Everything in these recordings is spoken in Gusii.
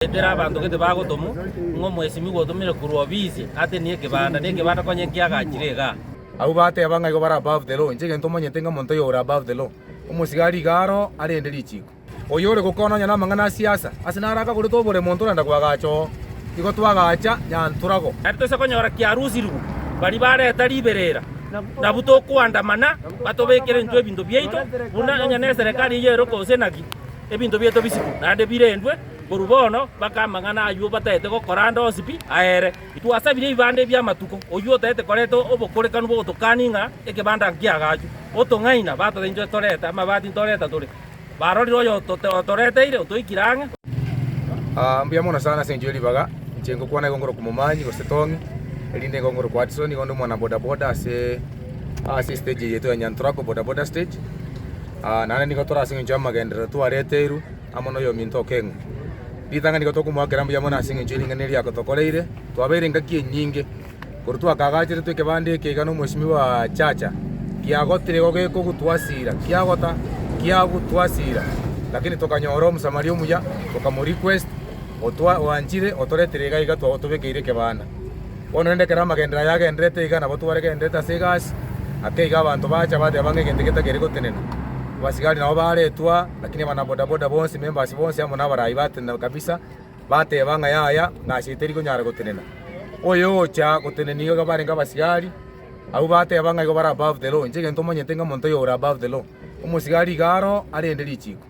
Ekero abanto gete bagotomwa, ng'a omwesimigwa otomire korwa ofisi atenie ekebanda, na ekebanda konya enkio agachire igaa. Abwo bateba ng'a igo bare above the law, inche egento omanyete ng'a omonto oyore above the law, omosigari iga aro arende richiiko. Oyore gokwana nonya namang'ana a siasa, ase naro akagorete obore monto orenda koagacha oo, igo twagacha Nyantorago. Tari toisa konyora kiarusirigwe baria bareta riberera, nabu tokoandamana batobekere intwe ebinto biaito, buna nonya neserekari eyerokose naki, ebinto biaito bisikwe naende birendwe. Korwa bono mpaka amang'ana ayio bataete gokora ande onsi pi aere. Twasabire ebibanda ebi'amatuko, oyio otaete koreta obokorekanu bw'ogotokani ng'a ekebanda nki'agaachwe. Otong'aina batorainchete torete amabati ntoreta tore. Barorire oyo otoreteire otoikire ang'e. Aa mbuya mono sana ase enchera eribaga inche ngokwana igo ngorokwa momanyi gose Tommy erinde igo ngorokwa Hudson igo ndi omwana boda boda ase ase estage eye yaito ya Nyanturako boda boda stage naende nigo tore ase eng'encho y'amagenderero twareterwe. amo noyominto okeng'u. Ritang'ani nigo tokomoakera mbuya mono ase engencho y'ering'ana eria agotokoreire. Twabeire engaki enyinge, korwa twakagacheretwe ekebanda eke iga nomosimi bwa Chacha, kiagotire igo gekogutwasira, kiagota, kiagutwasira, lakini tokanyora Omosamaria omuya, tokamorequest, otwa, oanchire, otoretire iga iga twa, otobekeire ekebanda. Bono rende ekero amagenderero aya agendererete iga nabo twaregendererete ase egasi, ake iga abanto bacha bateba ng'a egento eke takeri gotenena. Abasigari nabo baaretwa, lakini abanabodaboda bonsi, members bonsi amo nabaraai batenena kabisa, bateba ng'a yaya, ng'asi eye teri konyara gotenena. Oyo ogocha gotenenia iga barenge abasigari, abwo bateba ng'a igo bare above the law. Inche egento omanyete ng'a omonto oyo ore above the law. Omosigari iga aroo arende richiko.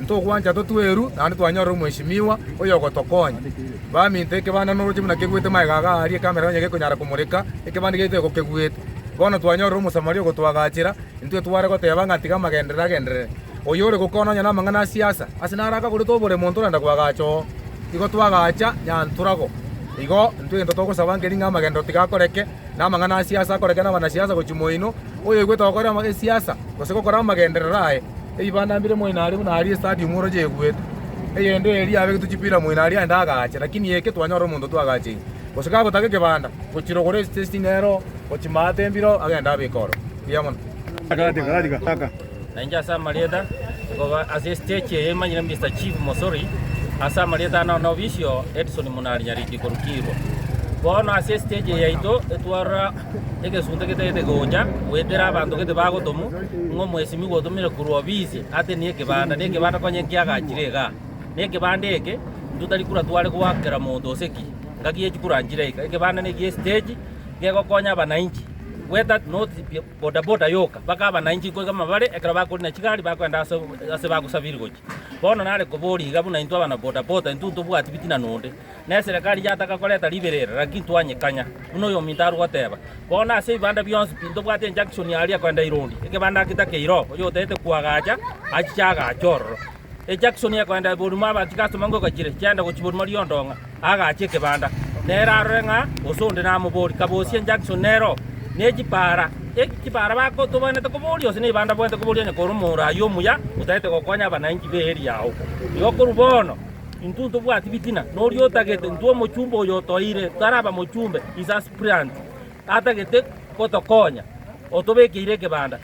Ntogwancha totue eru, naende twanyorera omweshimiwa oyogotokonya. Baminto, ekebanda noroche buna keguete magega aga aaria ekamera nonya gekonyara komoreka ekebanda giaito eko keguete. Bono twanyorire Omosamaria ogotwagachera, intwe tware goteba ng'a tiga amagenderere agenderere. Oyo ore gokora nonya namang'ana a siasa, ase naro akagorete obore monto orenda koagacha oo. Igo twagacha Nyantorago. Igo intwe egento togosaba nker'ing'a amagenderero tiga akoreke, Namang'ana a siasa akorekire nabanasiasa gochia moino, oyoigwete gokora esiasa gose gokora amagenderero aye. Ebibanda mbire moino aria buna aria estadium oroche eguete. Eyende eria abegetwe chipira moino aria aende agaache, lakini eke twanyora omonto twagacheire. Gose gagotaka ekebanda, gochira ogore eching'ero, gochia maate embiro, agende abeke oro. Buya mono. Na inche ase amarieta, nkoba ase esitechi eye emanyire Mister Chief Mosori, ase amarieta ane one obisio, Edson Munari Nyariki korukirwa. Bono ase esitechi yaito etwarora egesunte getagete gocha goetera abanto gete bagotomu, ng'a omwesimigwa ogotomire korwa obisi ate nekebanda, nekebanda konye nkiagachire igaa. Nekebanda eke intwe tari kura tware goakera monto gose ki, ngaki ye chikura nchire iga. Ekebanda nekiya esitechi gegokonya abanainchi, gweta not. bodaboda yoka, bakaba nainche inkoiga amabare ekero bakori na chigari bakoenda ase ase bagosabiri gochia. Bono nare koboria iga buna intwe abana bodaboda intwe ntobwati bitina nonde, na eserekari yataka koreta ribera ere, lakini twanyekanya. Buna oyominto are goteba, Bono ase ebibanda bionsi tintobwati enjunction aria koenda Irondi, ekebanda getakeire oo, oyotaete koagacha achiche agache ororo. Ejaksoni ekoenda eborimo abanto igasoma ngoko echire chiaenda gochia borimo riondong'a, agachia ekebanda. Nere arore ng'a gose onde namobori, kabosie ejaksoni nere oo. Ne chipaara, eki chipaara bakotobainete koboria gose nigo bandaboete koboria onye kore omoro ayio omuya otagete gokonya abananchi b'eeri yao. Igo korwa bono, intwe ntobwati bitina, noria otagete, intwe omochumba oyo otoire, taraba mochumbe, his aspirant, atagete gotokonya, otobekeire ekebanda.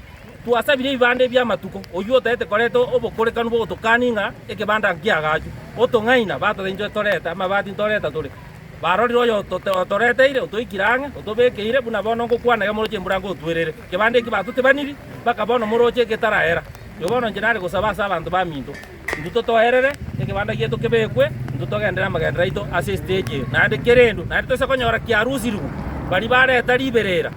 Twasabire ebibanda ebi amatuko, oyio otaete koreta obokorekanu bw'ogotokani ng'a ekebanda nki'agachu. Otong'aina batorenchwe torete amabati ntoreta tore. Barorire oyo otoreteire otoikire ang'e otobekeire buna bono ngokwana eg'emoroche embura ngotwerere. Ekebanda eki batotebaniri, bakaba onomoroche egetaraera. Nyoo bono inche nare gosaba ase abanto baminto. intwe totoerere, ekebanda gieto kebekwe, intwe togenderere amagendero aito ase esiteji eye, naende kerendu naende toise konyora kiarusirigwe baria bareta riberera.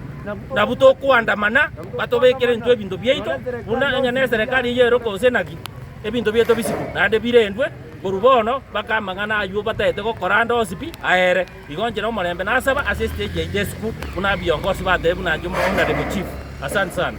Nabu tokoandamana batobekere intwe ebinto biaito, buna onye neserekari eyio ero gose naki, ebinto bieto bisibwe naende birendwe. Korwa bono mpaka amang'ana ayio bataete gokora ande onsi pi aere, igo nchire omorembe nasaba ase esiteji yaito esiko, buna biongosi batebire, buna inche omoundi nare mochifu. Asante sana.